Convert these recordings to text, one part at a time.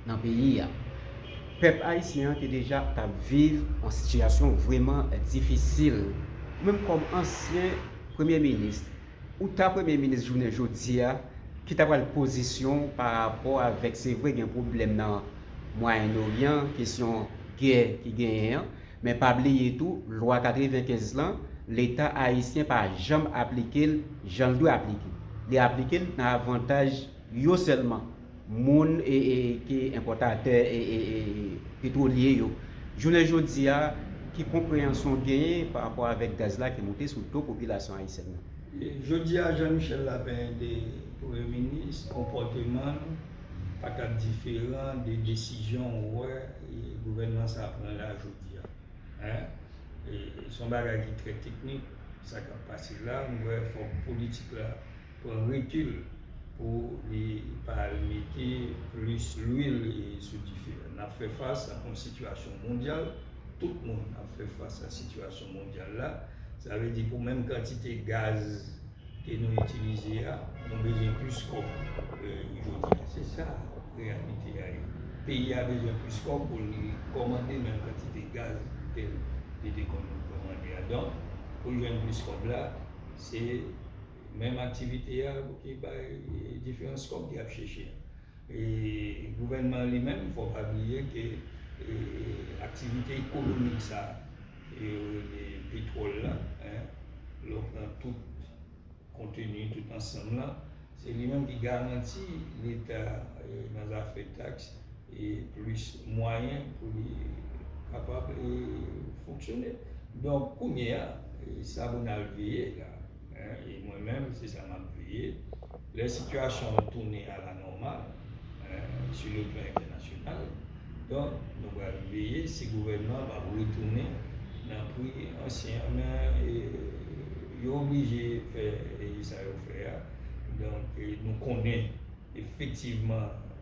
nan peyi a. Pèp ayisyen an te deja t ap viv yon sitiyasyon vrèman difisil. Ou menm kòm ansyen premye minis, ou ta premye minis jounen jodi a, ki ta pral pozisyon w pa rapò avèk se vre gen pwoblèm nan Mwayen Oryan, kesyon gè ki genyen an, men pa bliye tou lwa 95 lan leta ayisyen pa janm aplike l jan l dwe aplike. Li aplike l nan avantaj yo sèlman. moun ki enpòtatè petwolye yo jounen jodi a ki konpreyansyon w genyen pa rapò avèk gaz la ki moute sou do popilasyon ayisyèn nan? Jodi a Jean Michel Lapin te premye minis, konpòteman l pa t ap diferan de desizyon ou wè gouvènman sa pran la jodi a. Se yon bagay ki trè teknik sa k ap pase la, m wè fòk politik la pran rekil pou li pa al mete plis lwil sou dife a. N ap fè fas ak yon sitiyasyon mondyal, tout moun ap fè fas ak sitiyasyon mondyal la, sa vle di pou menm kantite gaz ke nou itilize a, nou bezwen plis kòb jodi a. Se sa reyalite a ye. Peyi a bezwen plis kòb pou li kòmande menm kantite gaz ke li te konn kòmande a. Donk, pou l jwenn plis kòb la, se. Menm aktivite a pou ki bay diferans kòb li ap cheche. E gouvènman an li menm fò pa bliye ke aktivite ekonomik sa ke yo rele petwòl la, lè w pran tout konteni, tout ansanm la, se li menm ki garanti leta nan zafè taks e plis mwayen pou li kapab fonksyone. Donk kounye a, sa pou n al veye la. E mwen menm se sa map veye. Lè sitiyasyon an tounen a la nòmal sou le plan entènasyonal, donk nou pral veye si gouvènman an ap retounen nan pri ansyen an men yo oblije fè sa yo fè a. Donk nou konnen efektivman.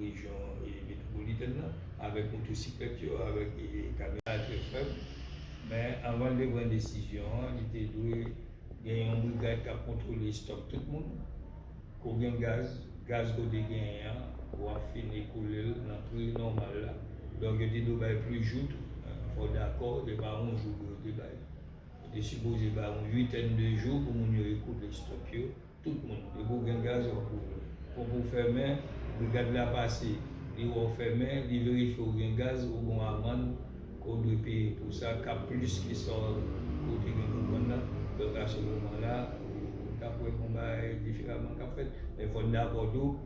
rejyon metwopolitèn nan avèk motosiklèt yo, avèk kamyonèt. Sa trè fèb, men anvan l te pran desizyon an, li te dwe gen yon brigad k ap kontwole estòk tout moun. Ko gen gaz, gaz ke w te genyen an, w ap fin ekoule l nan pri nòmal la. Donk yo te dwe bay plis jou tou. Fò w dakò, se pa yon jou ke yo te bay. Yo te sipoze bay yon uitèn de jou pou moun yo ekoule estòk yo. Tout moun. Depi w gen gaz wap ouvri. Pòp ou fèmen, brigad la pase, li wè w fèmen, li verifye w gen gaz, ou gen w amann ke w dwe peye pou sa kap plis ke sa w ke w te gen pou vann nan. Donk a se moman la ou tap wè gon bagay diferaman kap fèt. Men fò n dakò tou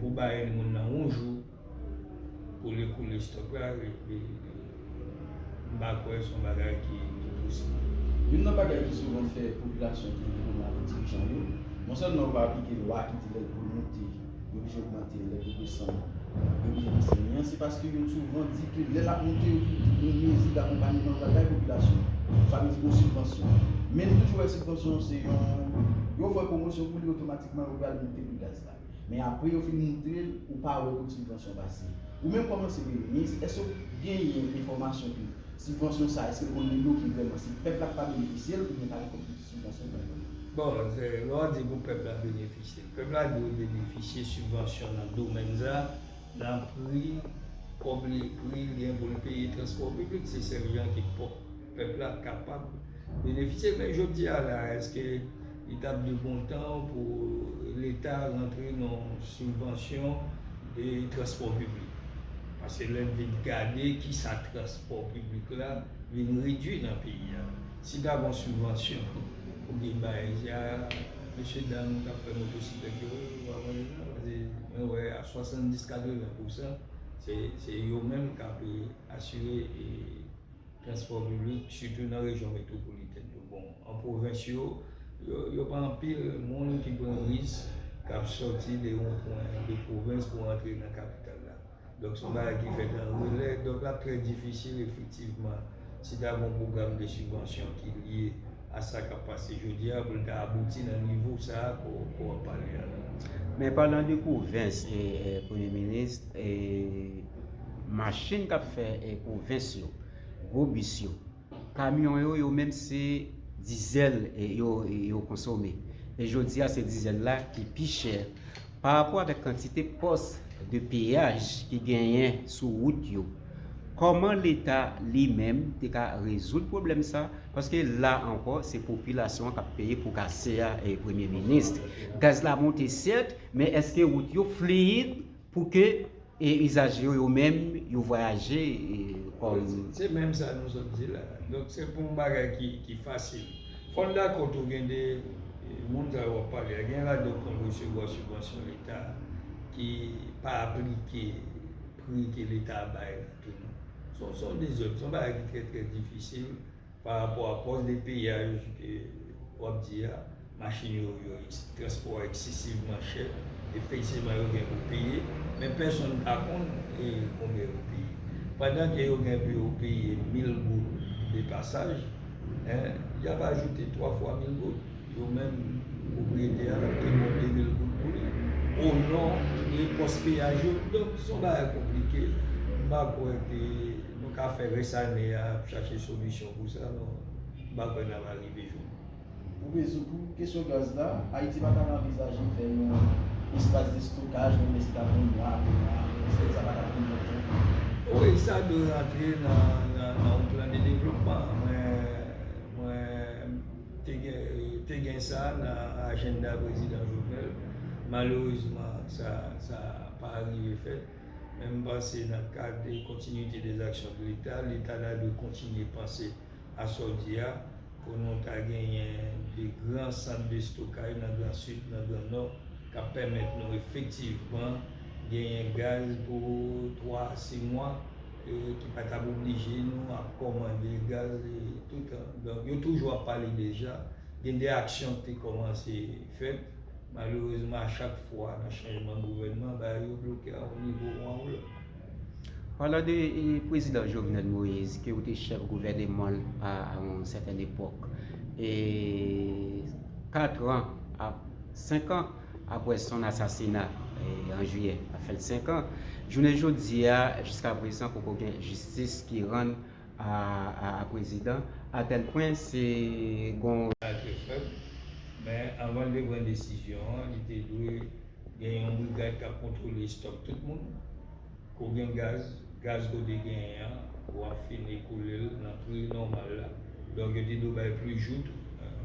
pou baye moun nan yon jou. Koule koule stock la m pa kwè son bagay ki posib. Youn nan bagay ki souvan fè popilasyon toujou vin mal ak dirijan yo, non sèlman yo pa aplike lwa ki di lè dlo moute yo oblije ogmante, lè dlo desann yo oblije bese men an se paske yo souvan di ke lè l ap moute yo toujou di gen mezi dakonpanyeman pral bay popilasyon an. Sa vle di gen sibvansyon. Men nou toujou wè sibvansyon se yon yo fè pwomosyon pou li otomatikman yo pral moute pri gaz la. Men apre yo fin moutre l, ou pa wè kot sibvansyon pase. Ou menm kòm ansyen premye minis, èske w genyen enfòmasyon ke sibvansyon sa a, èske l konn debloke vrèman, si pèp la k pa benefisye l, oubyen pa gen kòb ki sibvansyon pran yo? Bon, lè w di pou pèp la benefisye l, pèp la dwe benefisye sibvansyon nan domèn sa a, nan pri, kòb li, pri l gen pou l peye transpò piblik, se sèl jan ke pèp la kapab benefisye l. Men jodi a la a, èske. Li tap de bon tan pou leta rantre nan sibvansyon de transpò piblik. Pase lè n vin gade kisa transpò piblik la vin redwi nan peyi a. Si pa gon sibvansyon pou vin bay ja mesye dam kap fè motosiklèt yo pa pran yo nan. Pase mwen wè a 70, 80 pousan se yo menm kap asire. Transpò piblik, sitou nan rejyon metwopolitèn yo. Bon, an pwovens yo, yo pa anpil moun ki pran risk, k ap sòti de yon pwen de pwovens pou antre nan kapital la. Donk, se yon bagay ki fèt an relè. Donk, l ap trè difisil efektivman si ta gen yon pwogram de sibvansyon ki lye. a sa kap pase jodi a pou l ta abouti nan nivo sa a ke w ap pale a la. Men palan de pwovens, Premye Minis, machin k ap fè pwovens yo, gwo bis yo, kamyon yo, yo menm se dizèl yo konsome. E jodi a se dizèl la ki pi chè. Pa rapò avèk kantite pòs de peyaj ki genyen sou wout yo, kòman leta li menm te ka rezoud pwoblèm sa, paske la ankò se popilasyon an k ap peye pou kase a premye minis. Gaz la monte sèt, men èske wout yo fliyid pou ke E izaj yo yo menm yo vwayaje kòm. Se menm sa nou sot di la. Donk se pou yon bagay ki fasil. Fò n dakò tou gen de moun sa yo w ap pale a, gen ladan yo konn resevwa sibvansyon leta ki pa aplike pri ke leta bay la tou non. Se yon dezòd, se yon bagay ki trè trè difisil. Pa rapò a pòz de peyi a yo ke w ap di a, machin yo, yo transpò a eksesivman chè, efektivman yo gen pou peye, men pèsonn pa konn e konbyen yo peye. Pandan ke yo gen pou yo peye mil goud de pasaj, en, y ap ajoute twa fwa mil goud, yo menm pwopriyete a ki gen de mil goud pou li, o non de pòs peyaj yo. Donk, s on bagay konplike, m pa kwè ke. Nou ka fè rès ane a ap chache solisyon pou sa non m pa kwè n ap arive jwenn li. Pou rezoud pou kesyon gaz la, Ayiti pa t ap anvizaje fè yon espas de stokaj menm lè se t ap yon mwa, de mwa, pèsòn sa pa t ap konn lontan. Wi, sa dwe rantre nan yon plan de devlopman. Mwen te gen sa nan ajennda prezidan Jovenel. Malerezman sa pa rive fèt. men m panse nan kad kontinuite des actions de l'Etat, Leta ta dwe kontinye panse a sa w di a pou nou ta genyen de gran sant de stokay nan gran Sid, nan gran Nò k ap pèmèt nou efektivman genyen gaz pou 3 a 6 mwa e ki pa t ap oblije nou ap kòmande gaz toutan. Donk yo toujou ap pale deja, gen de aksyon ki te kòmanse fèt. Malerezman a chak fwa nan chanjman gouvènman bagay yo bloke a yon nivo ou a yon lòt. Palan de prezidan Jovenel Moise ke ou te chèf gouvènemanl a yon sèten epòk e 4 an ap 5 an apre son asasina an jiyè ap fèt 5 an jounen jodi a jiskaprezan poko gen jistis ki rann a prezidan atèl pwen se gon Leta trè fèb men anvan l te pran desizyon an li te dwe gen yon brigad k ap kontwole estòk tout moun ke w gen gaz gaz ke w te genyen an w ap fin ekoule l nan pri nòmal la donk yo te dwe bay plis jou tou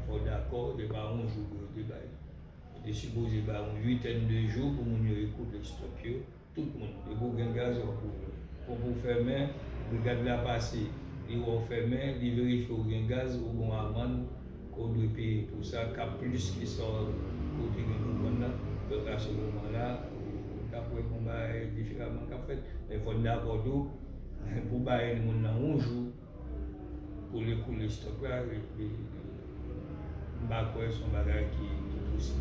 fò w dakò se pa yon jou ke yo te bay yo te sipoze bay yon uitèn de jou pou moun yo ekoule estòk yo. Tout moun. Depi w gen gaz wap ouvè. Ponp ou fèmen, brigad la pase li wè w fèmen, li verifye w gen gaz, ou gen yon amann ke w dwe peye pou sa kap plis ke sa w ou te gen pou vann nan. Donk a se moman la ou tap wè yon bagay diferaman kap fèt. Men fò n dakò tou pou baye moun nan yon jou. Konnen koulè stock la m pa kwè son bagay ki posib.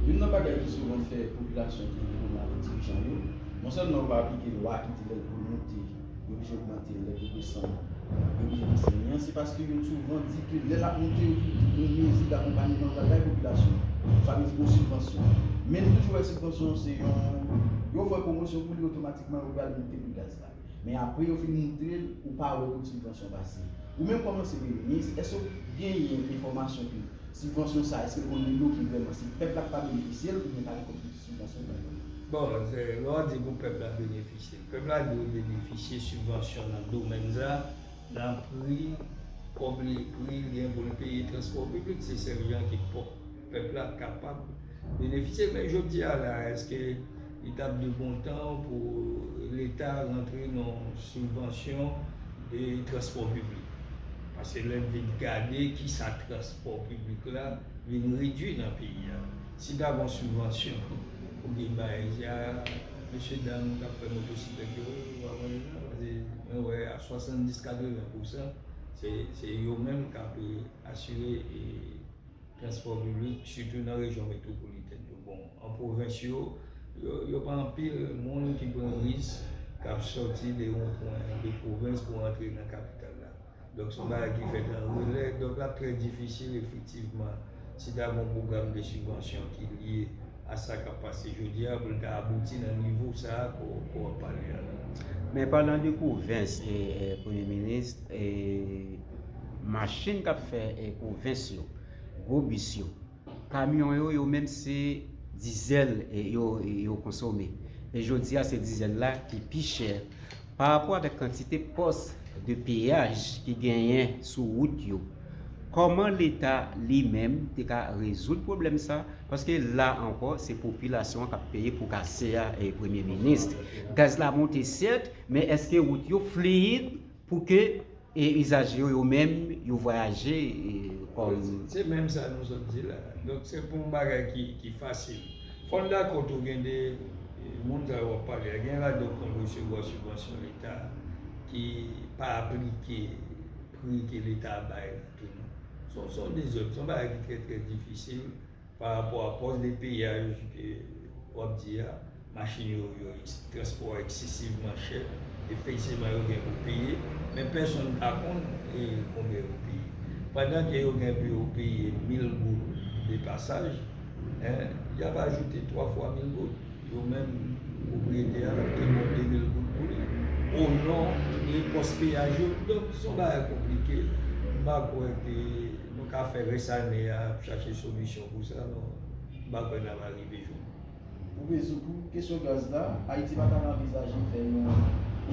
Youn nan bagay ki souvan fè popilasyon toujou pran mal ak dirijan yo, non sèlman yo pa aplike lwa ki di lè dlo moute yo oblije ogmante lè dlo desann yo oblije desann li an, se paske yo souvan di ke lè l ap moute yo toujou di gon mezi dakonpanyeman pral bay popilasyon an, sa vle di gon sibvansyon. Men nou toujou wè sibvansyon an se yon, yo fè pwomosyon pou li otomatikman yo pral moute pri gaz la. Men apre yo fin moutre l ou pa wè kot sibvansyon pase. Ou menm kòman se premye minis èske w genyen enfòmasyon ke sibvansyon sa èske l konn debloke vrèman si pèp la k pa benefisye l oubyen pa gen kot sibvansyon k bay pèp la? Bon, lè w di pou pèp la benefisye l, pèp la dwe benefisye sibvansyon nan domèn sa, nan pri, kòb li pri li gen pou l peye transpò piblik, se sèl jan ki k pòp. Pèp la kapab benefisye men jodi a la eske li tap de bon tan pou leta rantre nan sibvansyon de transpò piblik? Paske lè n vin gade kisa transpò piblik la vin redwi nan peyi a. Si pa gon sibvansyon pou vin bay a mesye dam kap fè motosiklèt yo pa pran yo nan paske mwen wè a 70 80 pousan se yo menm kap asire e. Transpò piblik, sitou nan rejyon metwopolitèn yo bon. An pwovens yo, yo pa anpil moun ki pran risk k ap sòti de yon pwen de pwovens pou antre nan kapital la. Donk se yon bagay ki fèt an relè. Donk l ap trè difisil efektivman si ta gen yon pwogram de sibvansyon ki lye a sa k ap pase jodi a pou l ta abouti nan nivo sa a ke w ap pale a la. Men palan de pwovens, Premye Minis, machin k ap fè pwovens yo, gwo bis yo, kamyon yo, yo menm se dizèl yo konsome. E jodi a se dizèl la ki pi chè parapò avèk kantite pòs de peyaj ki genyen sou wout yo. Kòman leta li menm te ka rezoud pwoblèm sa? Paske la ankò se popilasyon an k ap peye po kase a premye minis. Gaz la monte sèt men èske wout yo fliyid? Pou ke izaje yo yo menm yo vwayaje kòm. Se menm sa nou sot di la. Donk se pou yon bagay ki fasil. Fò n dakò tou gen de moun sa yo w ap pale a, gen ladan yo konn resevwa sibvansyon leta ki pa aplike pri ke leta bay la tou non. Se yon dezòd, se yon bagay ki trè trè difisil. Pa rapò a pòs de peyaj ke w ap di a, machin yo, transpò a eksesivman chè. Efektivman yo gen pou peye, men pèsonn pa konn konbyen yo peye. Pandan ke yo gen pou yo peye 1000 goud de pasaj, y ap ajoute 3 fwa 1000 goud. Yo menm, pwopriyetè a, l ap tounen 2000 goud pou li, o non de pòs peyaj yo. Donk, se yon bagay konplike. M pa kwè ke. Nou ka fè rès ane a ap chache solisyon pou sa nou pa kwè nap arive jwenn. Pou rezoud pou kesyon gaz la, Ayiti pa tap anvizaje fè yon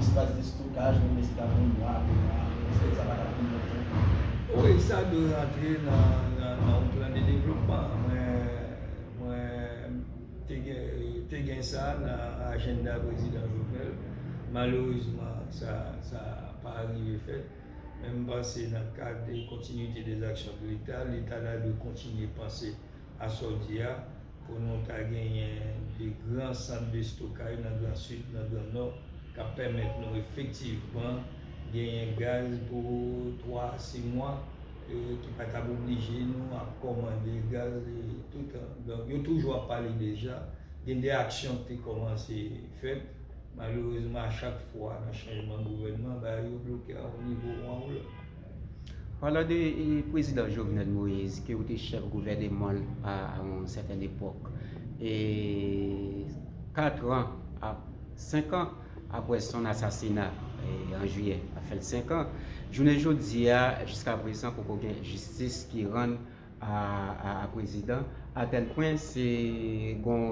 espas de stokaj menm lè se tap yon mwa, 2 mwa, pèske sa pa tap pran lontan pou fè. Wi, sa dwe rantre nan yon plan de devlopman. Mwen te gen sa nan ajennda prezidan Jovenel. Malerezman sa pa arive fèt. Men m panse nan kad kontinuite des actions de l'Etat, Leta ta dwe kontinye panse a sa w di a pou nou ta genyen de gran sant de stokaj nan gran Sid, nan gran Nò k ap pèmèt nou efektivman genyen gaz pou 3 a 6 mwa e ki pa t ap oblije nou ap kòmande gaz toutan. Donk yo toujou ap pale deja gen de aksyon k te kòmanse fèt Malerezman a chak fwa nan chanjman gouvènman bagay yo bloke a yon nivo ou a yon lòt. Palan de prezidan Jovenel Moise ke ou te chèf gouvèneman l a yon sèten epòk, e 4 an ap 5 an apre son asasina an jiyè ap fè l 5 an, jounen jodi a jiska prezan poko gen jistis ki rann a prezidan a tèl pwen se gon.